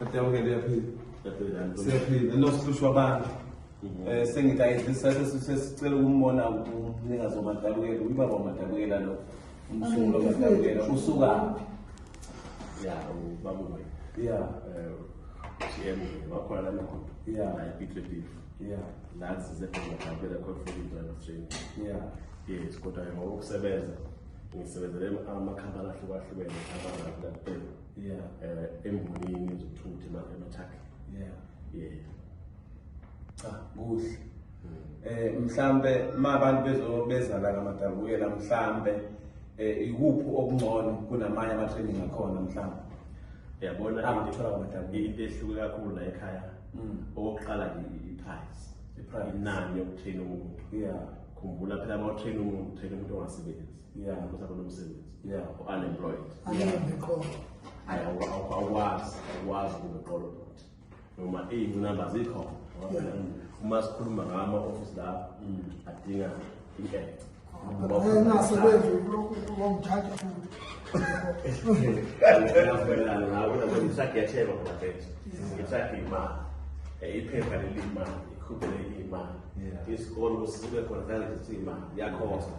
Adamukele uyaphila. Siyaphila nosihlushwa abantu. Mhm. Eh sengidayidlisa sesicela ukumbona umnikazi wamadabukela uyibaba wamadabukela lo. Umsunguli wamadabukela usuka phi? Ya ubaba wena. Ya. Eh GM wakhona la nakho. Ya. Ayiphihle beef. Ya. Nathi size khona ngabela khona for indaba training. Ya. Yes kodwa ngokusebenza ngisebenzele amakhampani ahlukahlukene abangakulaphela. yeah eh embonini zokuthutha emathakhe yeah yeah cha kuhle hmm. eh mhlambe mabantu bezobezana ngamadabukela mhlambe eh ikuphi okungcono kunamanye ama training akhona mhlambe yabona angithola ngamadabukela into ehluke kakhulu la ekhaya hmm. okokuqala i price i price inani yokuthina umuntu yeah khumbula phela uma uthina umuntu uthina umuntu ongasebenzi yeah ukuthi abanomsebenzi yeah unemployed awukwazi awukwazi ukubeqolo bhuti noma iy'ngcinamba zikhona uma sikhuluma ngama office la mm. adinga inkece engasebenzi wamthatha futhi ngiyavumelana nawe kodwa ngisagetheba ngoba mfethu ngithatha imali iphepha leli imali ikhubele imali isikolo sibe khona zange zithi imali yakhosta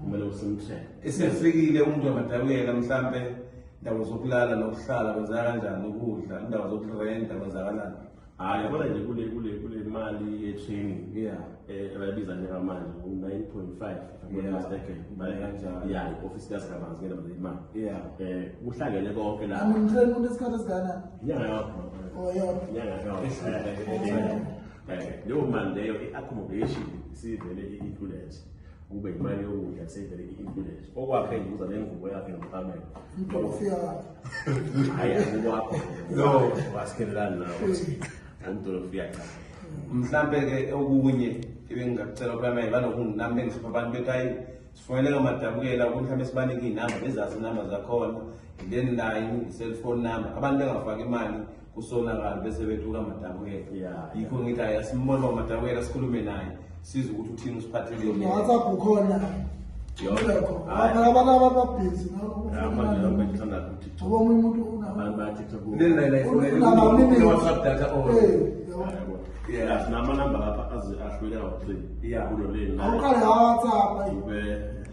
kumele usemthele esefikile umuntu angadabukela mhlampe indawo zokulala nokuhlala kwenzeka kanjani ukudla indawo zokurenta kwenzakalani hayi yabona nje kule kule kule mali ye-training yeah eh abayibiza njeka manje u-nine point five mistaken imali kanjalo ya i-ofisi kasikabanzi ngena manje imali yeah eh kuhlangene konke la angimtheni umuntu esikhathi esikanani inyanga yakho oh yona inyanga yakho eh, eh, eh, leyo mali leyo i-accommodation sivele i-included kube imali yokudla kusevele i-influence okwakhe ngibuza nengubo yakhe nomqamelo hayi akukwakho wasikhelelani nawo umdolofiya cha mhlampe-ke okunye ebengingacela ukwamele banokunginami bengihlupha abantu bethi hayi sifoneleka madabukela ukuthi mhlawumbe sibanike iy'namba bezazi iy'namba zakhona then nayo i-cellphone number abantu bengafaki imali kusonakala bese bethuka madabukela yeah, yikho ngithi hayi asimbone uba madabukela sikhulume naye size ukuthi uthini usiphatheleni whatsapp ukhona abanaba babhizi ngoba omunye umuntu unabaunewhatsapp data or yeah sinama number lapha ahluleka uqini yeah kulo leni awuqale whatsapp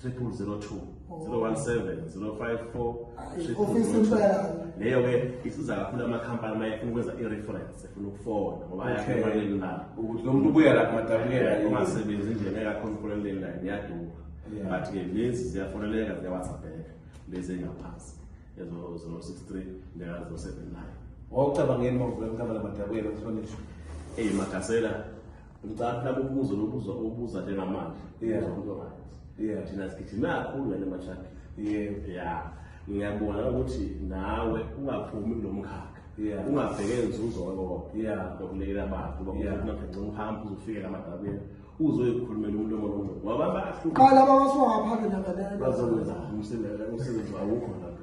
triple zero two zero one seven zero five four ofisi impela leyo ke isiza kakhulu amakhampani uma efuna ukwenza i-reference efuna ukufona ngoba ayakhonkoleli nayo ukuthi lo muntu ubuya lapha madabulela ungasebenzi nje ngeke akhonkoleleni nayo niyaduma but ke lezi ziyafoneleka ziyawatsapheka lezi engaphansi ezo zero six three ndeka zero seven nine wawucabangeni mawuvula mkabala madabulela mhlonishwa eyi magasela ngicabanga lapho ubuzo lobuzo obuza njengamanje yeah umuntu right yeah thina sigijima kakhulu ngale mashaka yeah yeah ngiyabona ukuthi nawe ungaphumi kulomkhakha yeah ungabheke inzuzo ngoba yeah ngokulekelela abantu ngoba yeah ungaphenge uhambe uzofika lamadabeni uzoyikhulumela umuntu omonongo ngoba bahlukana laba basuka ngaphandle nabadala bazokwenza umsebenzi umsebenzi awukho lapho